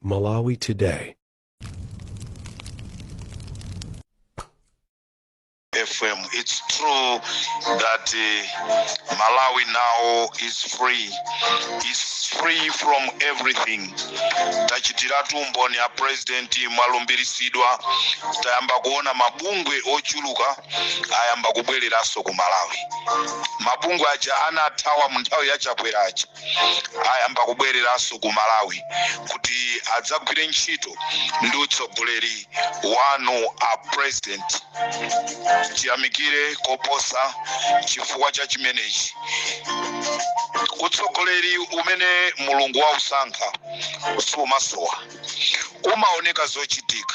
Malawi Today. FM. It's true that uh, Malawi now is free, is free from everything. Tachitiratu mboni a president mwalumbirisidwa tayamba kuona mabungwe ochuluka ayamba kubwereranso ku Malawi. Mabungwe aja anathawa mu nthawi ya Chakwera aja ayamba kubwereranso ku malawi kuti adzagwire ntchito ndi utsogoleri wanu a president tiyamikire koposa chifukwa cha chimenechi utsogoleri umene mulungu wausankha sumasowa umaoneka zochitika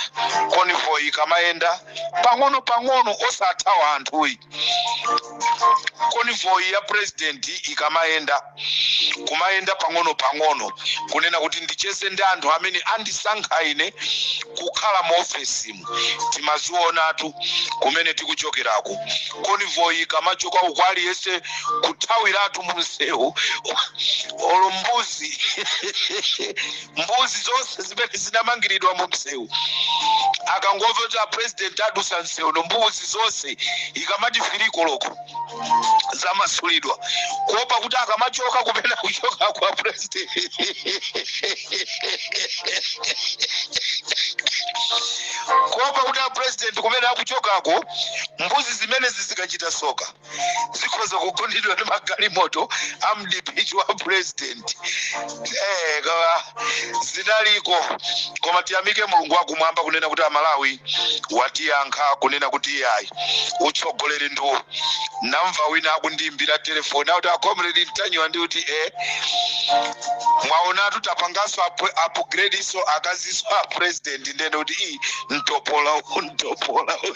convoy ikamayenda pang'ono pang'ono osathawa anthuyi convoy ya president ikamayenda kumayenda pang'ono pang'ono kunena kuti ndicheze ndi anthu amene andisankha ine kukhala mu ofesimu timazionatu kumene tikuchokerako convoy ikamachoka uku aliyense kuthawiratu mu msewu olo mbuzi mbuzi zonse zimene zinamangiridwa mu msewu akangomva kuti apresident adusa msewu uno mbuzi zonse ikamati three koloko zamasulidwa kuopa kuti akamachoka kupena kuchoka kwa president kuopa kuti apresident kumene akuchokako mbuzi zimenezi zikachita soka zikhoza kugundidwa ndi magalimoto a mdipiti wa president eh, kawa zinaliko koma tiyamike mulungu wakumwamba kunena kuti amalawi watiyankha kunena kuti iyayi utsogoleri ndiwo namva wina akundiimbira telefoni akuti akomredi mtanyiwa ndi kuti e mwaonatu tapanganso apu- upgradeso akazi a a president ndende kuti i mtopola u mtopola u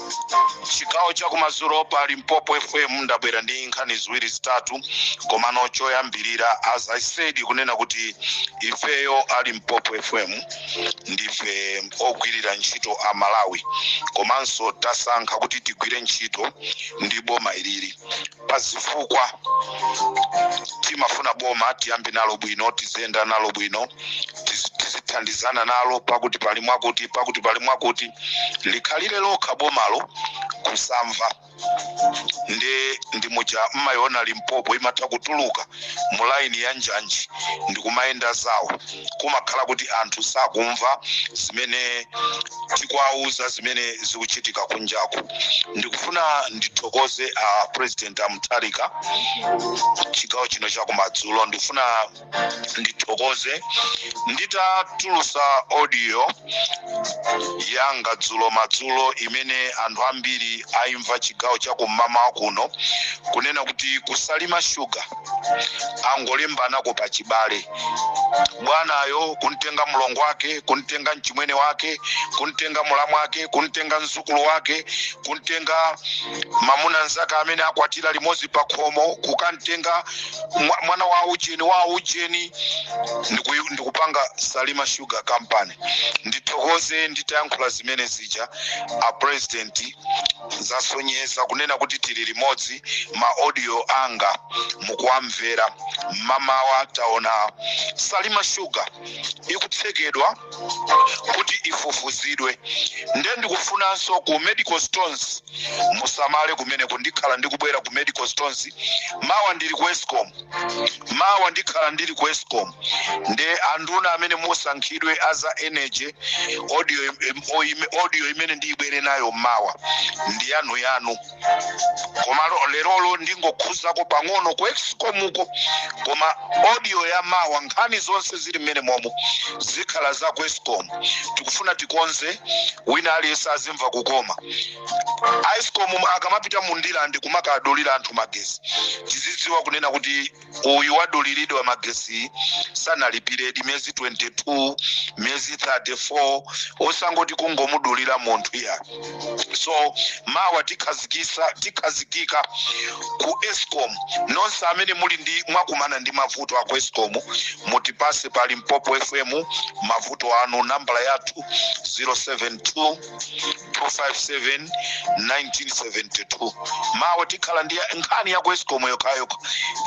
chigawo chakumadzulo pa limpopo fm ndabwera ndi nkhani ziwiri zitatu komano choyambirira as i said kunena kuti ifeyo a limpopo fm ndife ogwirira ntchito a malawi komanso tasankha kuti tigwire ntchito ndi boma ilili pa zifukwa timafuna boma tiyambe nalo bwino tiziyenda nalo bwino tizi- tizithandizana nalo pakuti pali mwakuti pakuti pali mwakuti likhalire lokha bomalo kusamva ndiye ndi muja mmayiona limpopo imatha kutuluka mu laini ya njanji ndikumayenda zawo kumakhala kuti anthu sakumva zimene tikuwauza zimene zikuchitika kunjako ndikufuna ndithokoze a uh, president amutharika chigawo chino chakumadzulo ndikufuna ndithokoze nditatulusa audio yanga dzulo madzulo imene anthu ambiri aimva chigawo chakum'mawa kuno kunena kuti ku salima sugar angolembanako pa chibale bwanayo kuntenga mlongo wake kuntenga mchimwene wake kuntenga mulamu wake kuntenga mzukulu wake kuntenga mamuna nzake amene akwatira limodzi pa khomo kukantenga mwa- mwana wa ujeni wa ujeni ndiku- ndikupanga salima sugar company ndithokoze nditayankhula zimene zija a president zasonyeza kunena kuti tili limodzi ma audio anga mukuwamvera mmamawa taona salima sugar ikutsekedwa kuti ifufuzidwe nde ndikufunanso ku medical stores musamale kumeneku ndikhala ndikubwera ku medical stores mawa ndili ku escom mawa ndikhala ndili ku escom ndi anduna amene musankhidwe a za energy audio, im- oime- audio imene ndiyibwere nayo mawa ndi yanu yanu koma lo- lerolo ndingokhuzako pang'ono ku escomuko koma audio ya mawa nkhani zonse zili mmenemomo zikhala za ku escom tikufuna tikonze wina aliyense azimva kukoma a escom akamapita mu ndirande kumakadulira anthu magesi tizidziwa kunena kuti uyu waduliridwa magesi sanalipiredi miyezi 22 miyezi 34 osangoti kungomudulira munthu ya so mawa tikhazikisa tikhazikika ku escom nonse amene muli ndi mwakumana ndi mavuto aku escom mutipase pa limpopo fm mavuto anu nambala yathu 072 257 1972 mawa tikhala ndi nkhani ya ku escom yokhayokha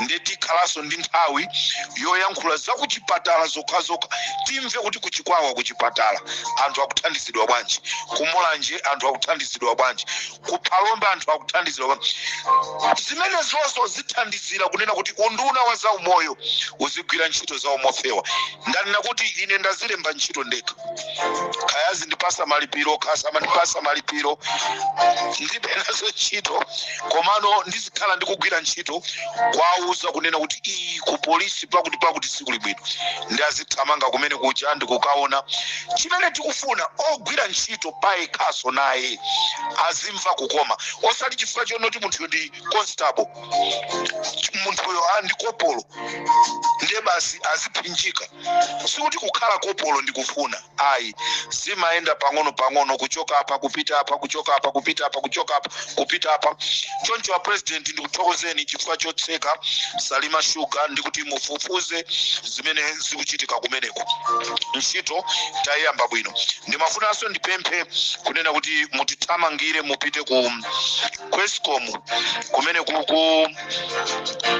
nde tikhalanso ndi nthawi yoyankhula za kuchipatala zokhazokha timve kuti kuchikwawa kuchipatala anthu akuthandizidwa bwanji kumulanje anthu akuthandizidwa bwanji kuphalombe anthu akuthandizidwa bwanji zimenezonso zithandizira kunena kuti unduna wa zaumoyo uzigwira ntchito zawo mofewa ndanena kuti ine ndazilemba ntchito ndekha kaya azindipasa malipiro kaya samandipasa malipiro ndilibe nazo ntchito komano ndizikhala ndikugwira ntchito kuwauza kunena kuti iyi ku polisi pakuti pakuti sikuli bwino ndi azithamanga kumene kuja ndikukaona chimene tikufuna ogwira ntchito payekhaso naye azimva kukoma osati chifukwa chonoti munthu ndi constable munthuyo ndi kopolo ndiye basi aziphinjika sikuti kukhala kopolo ndi kufuna ayi zimayenda pang'ono pang'ono kuchoka apa kupita apa kuchoka apa kupita apa kuchoka apa kupita apa choncho a president ndikuthokozeni chifukwa chotseka Salima Sugar ndikuti mufufuze zimene zikuchitika kumeneko ntchito tayiyamba bwino ndimafunanso ndipemphe kunena kuti mutithamangire mupite ku ku Escom kumene kuku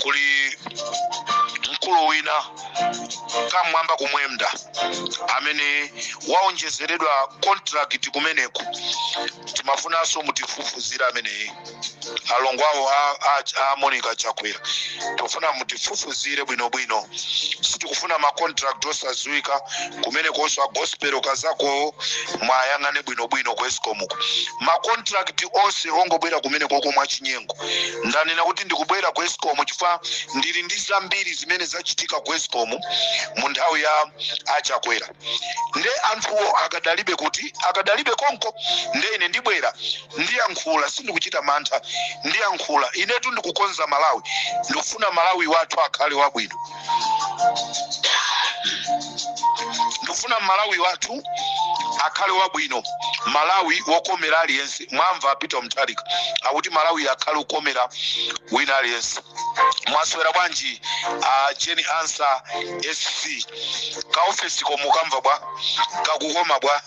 kuli mkulu wina kamwamba Kumwenda amene waonjezeredwa contract kumeneku timafunanso mutifufuzire ameneyi alongo awo a- a- a monica chakwera tikufuna mutifufuzire bwinobwino sitikufuna macontract osadziwika kumenekonso a Gospel Kazakowo mwayang'ane bwinobwino ku escom macontract onse ongobwera kumene koko mwachinyengo ndanena kuti ndikubwera ku escom chifukwa ndili ndi zambiri zimene zachitika ku escom mu nthawi ya a Chakwera nde anthuwo akadalibe kuti akadalibe konko nde ine ndibwera ndiyankhula sindikuchita mantha ndiyankhula inetu ndikukonza malawi ndikufuna malawi wathu akhale wabwino ndikufuna malawi wathu akhale wabwino malawi wokomera aliyense mwamva a Peter Mutharika akuti malawi akhale wokomera wina aliyense mwaswera bwanji a Jane Ansah sc kaofesi ko mukumva bwa kakukoma bwa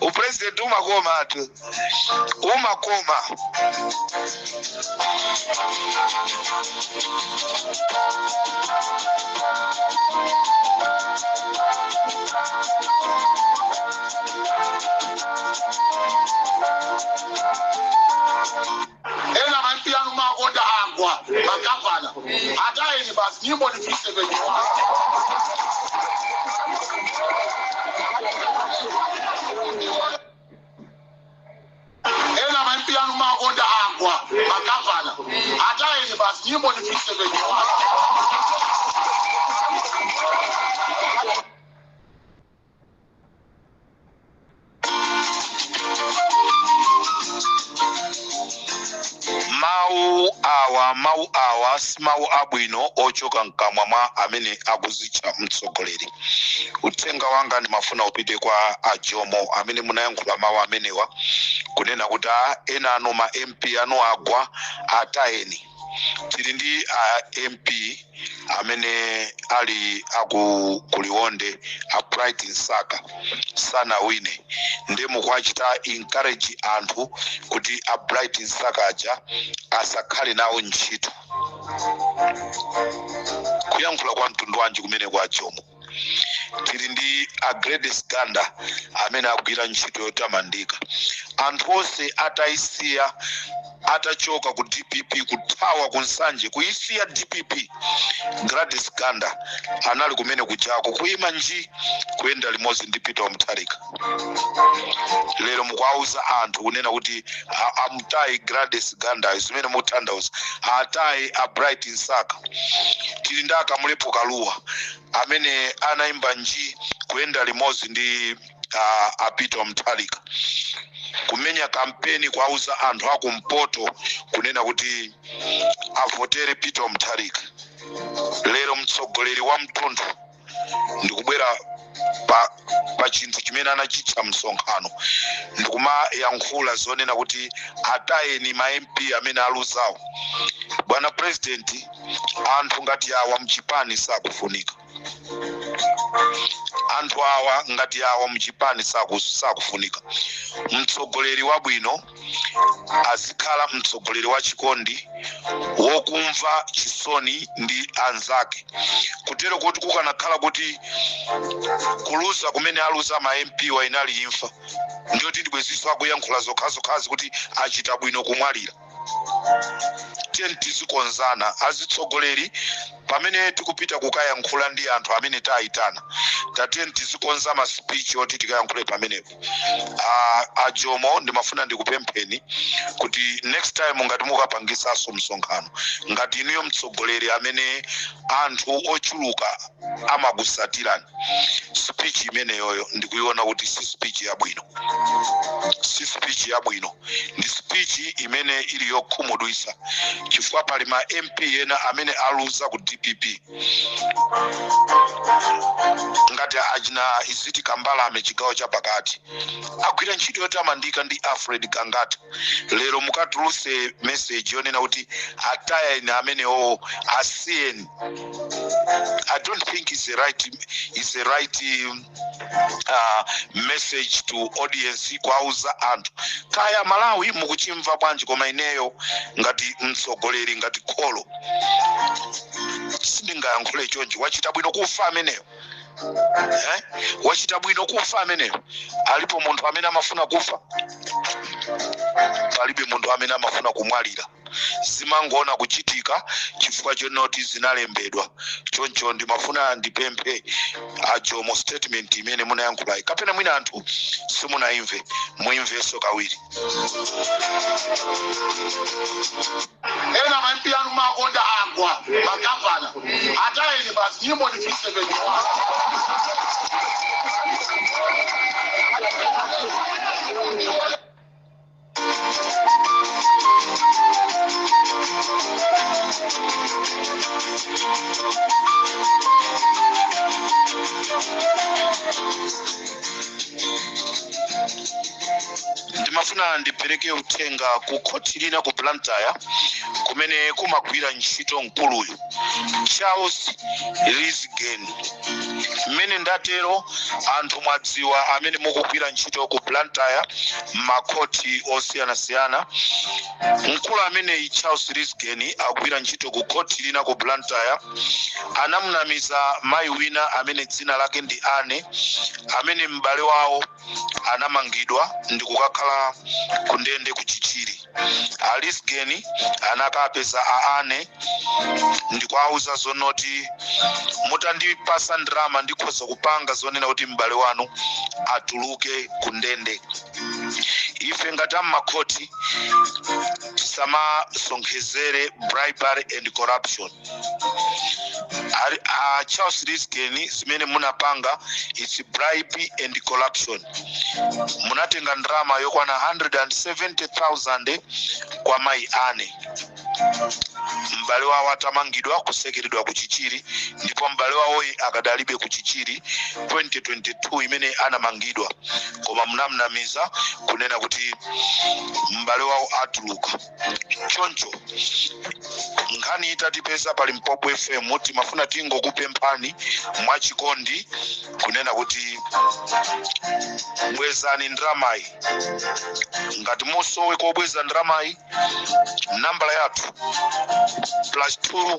upresident umakoma atu umakoma ena ma MP anu makonda agwa magavana atayeni basi nyimbo ni 371 ena ma MP anu makonda agwa magavana atayeni basi nyimbo ni 371 mawu awa mawu awa si mawu abwino ochoka mkamwa mwa amene akuzitcha mtsogoleri uthenga wanga ndimafuna upite kwa a jomo amene munayankhula mawu amenewa kunena kuti a ena anu ma mp anu agwa atayeni tili ndi a mp amene ali aku kuliwonde a bright msaka sanawine nde mukuwachita encourage anthu kuti a bright msaka aja asakhale nawo ntchito kuyankhula kwa mtundu wanji kumeneko a jomo tili ndi a gladys ganda amene agwira ntchito yotamandika anthu onse atayisiya atachoka ku dpp kuthawa ku nsanje kuyisiya dpp gladys ganda anali kumene kujako kuyima nji kuyenda limodzi ndi peter mutharika lero mukuwauza anthu kunena kuti a- amutaye gladys gandayo zimene mutanthauza ataye a bright msaka tili ndi a kamlepo kalua amene anayima nji kuyenda limodzi ndi uh, a peter mutharika kumenya kampeni kuwauza anthu akumpoto kunena kuti avotere peter mutharika lero mtsogoleri wa mtundu ndikubwera pa, pa chinthu chimene anachitcha msonkhano ndikumayankhula zonena kuti atayeni ma mp amene aluzawo bwana president anthu ngati awa mchipani sakufunika anthu awa ngati awa mchipani saku- sakufunika mtsogoleri wabwino azikhala mtsogoleri wa chikondi wokumva chisoni ndi anzake kutero kuti kukanakhala kuti kuluza kumene aluza ma mp wa inali imfa ndiye kuti bwenziso akuyankhula zokhazokhazi kuti achita bwino kumwalira tiyeni tizikonzana azitsogoleri pamene tikupita kukayankhula ndi anthu amene tayitana tatiyeni tizikonza masipichi oti tikayankhule pamenepo a, a jomo ndimafuna ndikupempheni kuti next time ngati mukapangisaso msonkhano ngati inuyo mtsogoleri amene anthu ochuluka amakusatirani speech imeneyoyo ndikuiona kuti si speech yabwino si speech yabwino ndi speech imene ili yokhumudwisa chifukwa pali ma mp ena amene aluza ku dpp ngati achina iziti kambalame chigawo chapakati agwira ntchito yotamandika ndi alfred gangata lero mukatuluse meseji yonena kuti atayeni amenewo asiyeni i don't think is a right, it's a right um, uh, message to audience kwauza anthu kaya malawi mukuchimva bwanji koma ineyo ngati mtsogoleri ngati kholo sindingayankhule chonchi wachita bwino kufa ameneyo eh? wachita bwino kufa ameneyo alipo munthu amene amafuna kufa palibe munthu amene amafuna kumwalira zimangoona kuchitika chifukwa chonoti zinalembedwa choncho ndimafuna ndipemphe a Jomo statement imene munayankhulayi kapena mwina anthu simunayimve muyimvenso kawiri ena ma MP anu makonda agwa magavana atayeni basi nyimbo ni 371 Thank you. ndimafuna ndipereke uthenga ku khoti lina ku blantyre kumene kumagwira ntchito mkuluyu Charles Lisgen. Mmene ndatero anthu mwadziwa amene mukugwira ntchito ku Blantyre m'makhoti osiyanasiyana. Mkulu ameneyi Charles Lisgen akugwira ntchito ku khoti lina ku Blantyre anamunamiza mayi wina amene dzina lake ndi Anne amene m'bale wawo anamangidwa ndi kukakhala ku ndende ku chichiri a lisgeni anakapeza a ane ndikuwauza zonoti mutandipasa ndrama ndikhoza kupanga zoonena kuti m'bale wanu atuluke ku ndende ife ngati ammakhoti tisamasonkhezere bribery and corruption Ari- ah, charles lisgen zimene munapanga its bribe and corruption munatenga ndrama yokwana 170000 kwa mayi ane m'bale wawo atamangidwa kutsekeredwa ku chichiri ndipo m'bale wawoyi akadalibe ku chichiri 2022 imene anamangidwa koma munamnamiza kunena kuti m'bale wawo atuluka choncho nkhani itatipeza pa limpopo fm timafuna tingokupemphani mwachikondi kunena kuti bwezani ndramayi ngati mwasowa kobweza ndramayi nambala yathu plus 2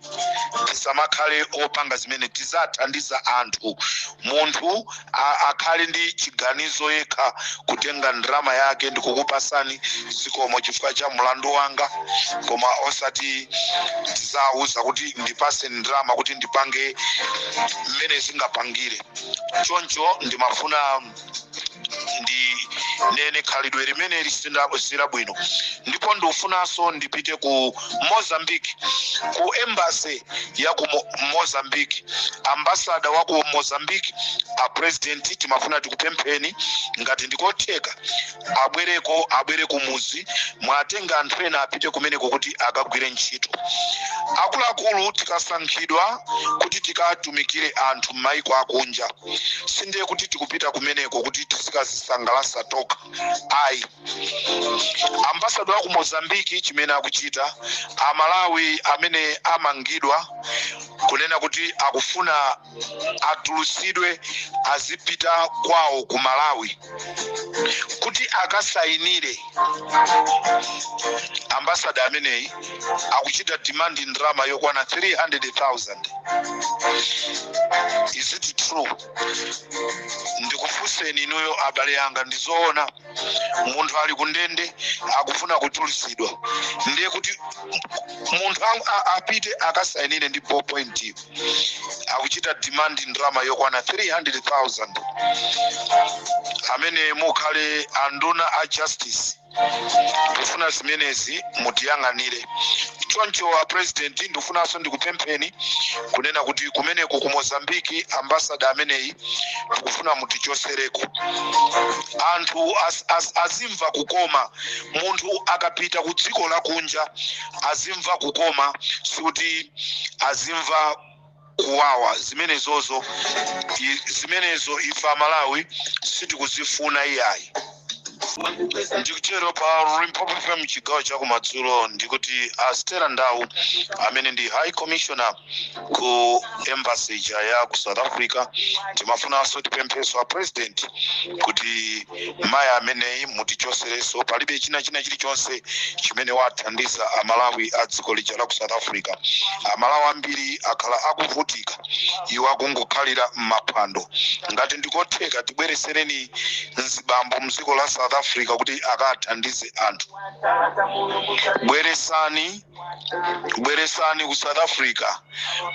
tisamakhale opanga zimene tizathandiza anthu munthu a- akhale ndi chiganizo yekha kutenga ndalama yake ndikukupasani zikomo chifukwa cha mlandu wanga koma osati tizawuza kuti ndipase ndalama kuti ndipange mmene zingapangire choncho ndimafuna ndinene khalidwe limene lisili bwino ndipo ndifunanso ndipite ku mozambique ku embassy ya ku Mo- mozambique ambasada wa ku mozambique a president timafuna tikupempheni ngati ndikotheka abwereko abwere ku muzi muwatenge anthu ena apite kumeneko kuti akagwire ntchito akuluakulu tikasankhidwa kuti tikatumikire anthu m'maiko akunja sindiye kuti tikupita kumeneko kuti tizikazisangalasa tokha ayi ambasada wa ku mozambiki chimene akuchita amalawi amene amangidwa kunena kuti akufuna atulusidwe azipita kwawo ku malawi kuti akasayinire ambasada ameneyi akuchita demand ndalama yokwana 300,000 is it true ndikufunseni inuyo abale anga ndizoona munthu ali kundende akufuna kutulutsidwa ndiye kuti munthu ang- a- apite akasayinire ndi ballpoint akuchita demand ndalama yokwana 300,000 amene mukhale anduna a justice ndifuna zimenezi mutiyang'anire choncho a president ndifunanso ndikupempheni kunena kuti kumeneko ku mozambiki ambasada ameneyi tikufuna mutichosereko anthu as, as, azimva kukoma munthu akapita ku dziko lakunja azimva kukoma sikuti azimva kuwawa zimenezozo i- zimenezo ife amalawi sitikuzifuna iyayi ndikuchezero pa limpopo fm chigawo chakumadzulo ndikuti a stella ndau amene ndi high commissioner ku embassy ija ya ku south africa timafunanso tipempheso a president kuti mayi ameneyi mutichosereso palibe china china chilichonse chimene wathandiza amalawi a dziko lija la ku south africa amalawi ambiri akhala akuvutika iwo akungokhalira m'maphwando ngati ndikotheka tibweresereni mzibambo mdziko la south africa kuti akathandize anthu bweresani bweresani ku south africa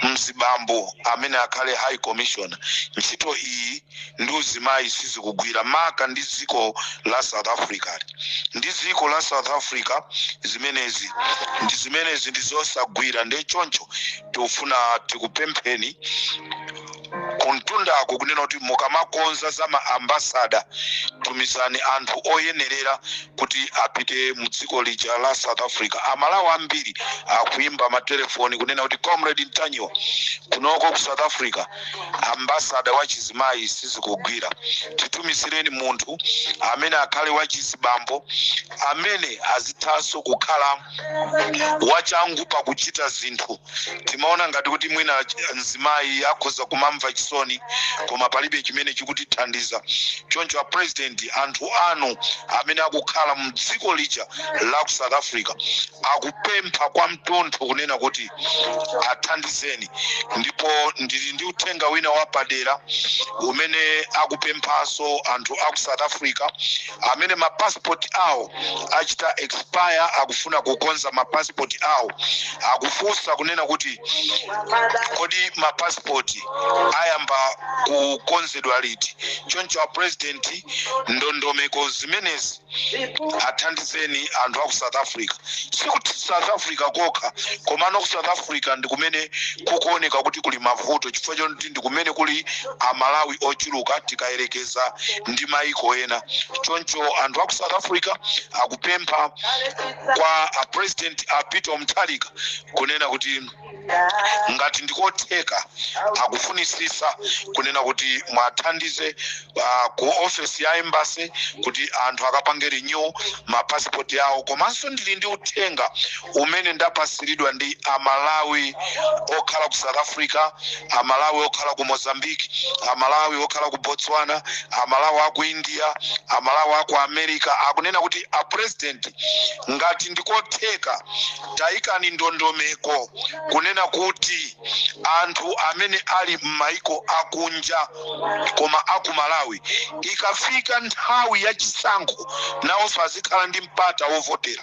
mzibambo amene akhale high commissioner ntchito iyi ndi uzimayi sizikugwira maka ndi dziko la south africa ndi dziko la south africa zimenezi ndi zimenezi ndi zosagwira nde choncho tikufuna tikupempheni kumtundako kunena kuti mukamakonza za maambasada tumizani anthu oyenerera kuti apite mu dziko lija la south africa amalawi ambiri akuimba matelefoni kunena kuti comrade mtanyiwa kunoko ku south africa ambasada wa chizimayi sizikugwira titumizireni munthu amene akhale wa chizibambo amene azithanso kukhala wachangu pakuchita zinthu timaona ngati kuti mwina ch- mzimayi akhoza kumamva chisoni koma palibe chimene chikutithandiza choncho apresident anthu anu amene akukhala mdziko lija la ku south africa akupempha kwa mtontho kunena kuti athandizeni ndipo ndili ndi uthenga wina wapadera umene akupemphanso anthu a ku south africa amene ma passport awo achita expire akufuna kukonza ma passport awo akufunsa kunena kuti kodi ma passport ayamba kukonzedwa liti choncho a president ndondomeko zimenezi athandizeni anthu aku south africa sikuti south africa kokha komano ku south africa ndi kumene kukuoneka kuti kuli mavuto chifukwa choti ndi kumene kuli amalawi ochuluka tikayerekeza ndi maiko ena choncho anthu aku south africa akupempha kwa a president a peter mutharika kunena kuti ngati ndikotheka akufunisisa kunena kuti muwathandize uh, ku ofesi ya embassy kuti anthu akapange renew mapasipoti awo komanso ndili ndi uthenga umene ndapasiridwa ndi amalawi okhala ku south africa amalawi okhala ku mozambique amalawi okhala ku botswana amalawi aku india amalawi aku america akunena kuti a president ngati ndikotheka tayikani ndondomeko kunena kuti anthu amene ali m'maiko akunja koma aku malawi ikafika nthawi ya chisankho nawonso azikhala ndi mpata wovotera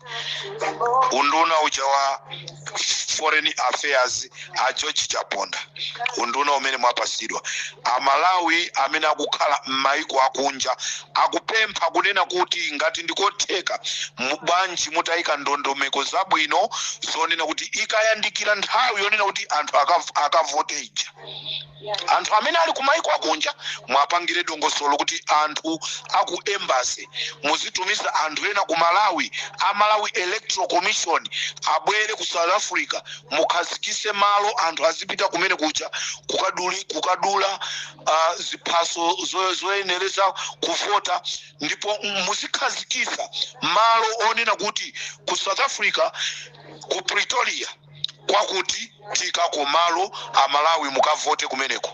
unduna uja wa foreign affairs a george chaponda unduna umene mwapasidwa amalawi amene akukhala m'maiko akunja akupempha kunena kuti ngati ndikotheka mu- bwanji mutayika ndondomeko zabwino zonena kuti ikayandikira nthawi yonena kuti anthu akav- akavote ija anthu amene ali kumaiko akunja muwapangire dongosolo kuti anthu aku embassy muzitumiza anthu ena ku malawi a malawi electoral commission abwere ku south africa mukhazikise malo anthu azipita kumene kuja kukaduli, kukadula uh, ziphaso zo- zoyenereza kuvota ndipo muzikhazikisa malo onena kuti ku south africa ku pretoria kwakuti tiikako malo amalawi mukavote kumeneko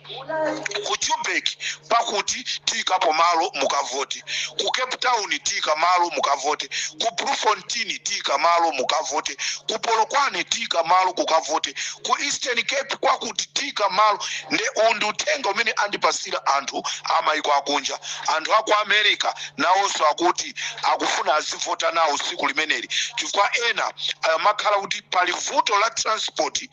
ku joburg pakuti tiikapo malo mukavote ku cape town tiika malo mukavote ku bloemfontein tiika malo mukavote ku polokwane tiika malo mukavote ku eastern cape kwakuti tiika malo nde uwu ndi uthenga umene andipasira anthu amayiko akunja anthu aku america nawonso akuti akufuna azivota nawo tsiku limeneli chifukwa ena amakhala kuti pali vuto la transport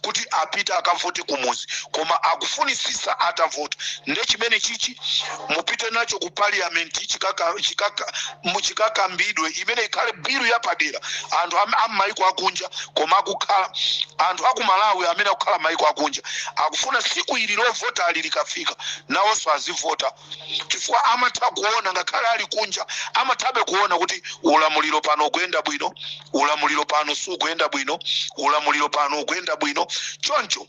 kuti apite akavote kumuzi koma akufunitsitsa atavota nde chimene chichi mupite nacho ku parliament chikaka, chikaka, mu- chikakambidwe imene ikhale bilu yapadera anthu am- a m'mayiko akunja koma akukhala anthu aku malawi amene akukhala m'mayiko akunja akufuna tsiku ili lovota ali likafika nawonso azivota chifukwa amatha kuona ngakhale ali kunja amathabe kuona kuti ulamuliro pano ukuyenda bwino ulamuliro pano sukuyenda bwino ulamuliro pano ukuyenda bwino choncho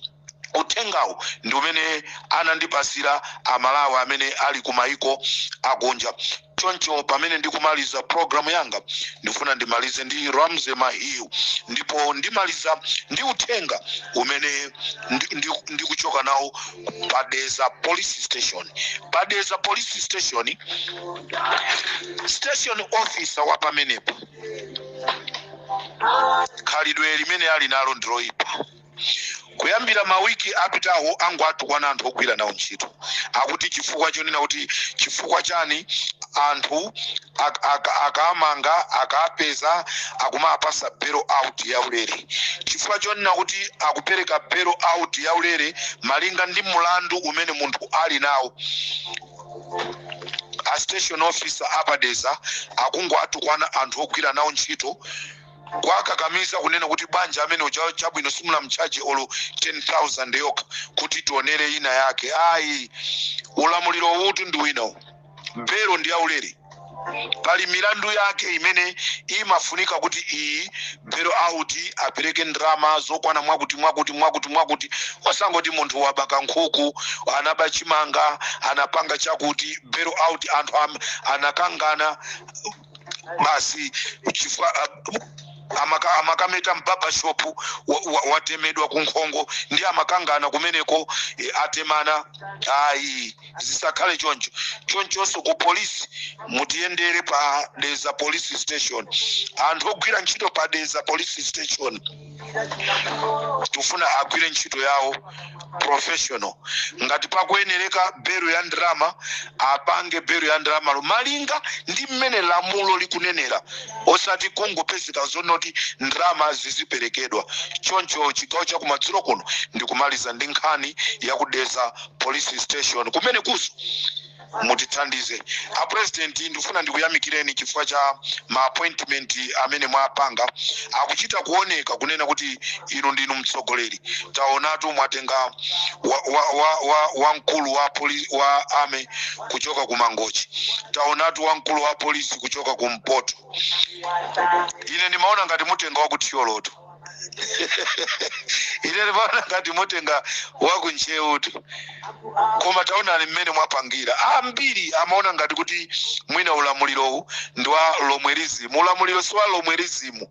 uthengawo ndi umene anandipasira amalawi amene ali kumayiko akunja choncho pamene ndikumaliza programu yanga ndifuna ndimalize ndi ramsey mahiu ndipo ndimaliza ndi uthenga umene ndikuchoka ndi, ndi ndikuchoka nawo pa dedza police station pa dedza police station station officer wa pamenepo khalidwe limene ali nalo ndiloyipa kuyambira mawiki apitawo akungowatukwana anthu ogwira nawo ntchito akuti chifukwa chonena kuti chifukwa chani anthu ak- ak- akamanga akapeza akumawapatsa bail out ya ulere chifukwa chonena kuti akupereka bail out ya ulere malinga ndi mulandu umene munthu ali nawo a station officer a pa dedza akungowatukwana anthu ogwira nawo ntchito kuwakakamiza kunena kuti banja amene uja chabwino simunamtchaje olo 10000 yokha kuti tionere ina yake ayi ulamuliro uwutu ndi winawu bail ndi yaulere pali milandu yake imene imafunika kuti iyi bail out apereke ndalama zokwana mwakuti mwakuti mwakuti mwakuti osangoti munthu waba kankhuku anaba chimanga anapanga chakuti bail out anthu am- anakangana basi chifukwa amaka, amakameta m'barber shop watemedwa wa, wa kunkhongo ndi amakangana kumeneko e, atemana ayi zisakhale choncho chonchonso ku polisi mutiyendere pa dedza police station anthu ogwira ntchito pa dedza police station tikufuna agwire ntchito yawo professional ngati pakuyenereka belo ya ndalama apange belo ya ndalamalo malinga ndi mmene lamulo likunenera osati kungopezeka zonoti ndalama ziziperekedwa choncho chigawo chakumadzulo kuno ndikumaliza ndi nkhani yakudedza police station kumene kuso mutithandize a president ndikufuna ndikuyamikireni chifukwa cha ma appointment amene mwapanga akuchita kuoneka kunena kuti inu ndinu mtsogoleri taonatu mwatenga wa, wa, wa, wa, wa mkulu wa, poli, wa army kuchoka ku mangochi taonatu wa mkulu wa polisi kuchoka ku mpoto ine ndimaona ngati mutenga wa ku thyolotu ine ndimaona ngati mutenga wakuntcheutu koma taonani mmene mwapangira ambiri amaona ngati kuti mwina ulamulirowu ndi wa lomwerizimu ulamuliro si wa lomwerizimu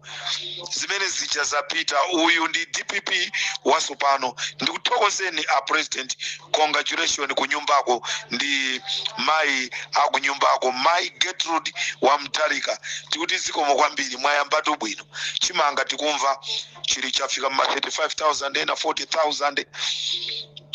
zimene zijazi zapita uyu ndi dpp wasopano ndikuthokozeni a president congratulation kunyumbako ndi mayi akunyumbako mayi gertrude mutharika tikuti zikomo kwambiri mwayambatu bwino chimanga tikumva chili chafika mma 35000 ena 40000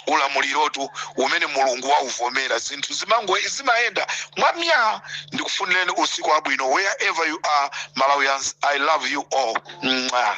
ulamulirotu umene mulungu wauvomera zinthu zimango zimayenda mwamya ndikufunireni usiku wabwino wherever you are malawians i love you all Mwah.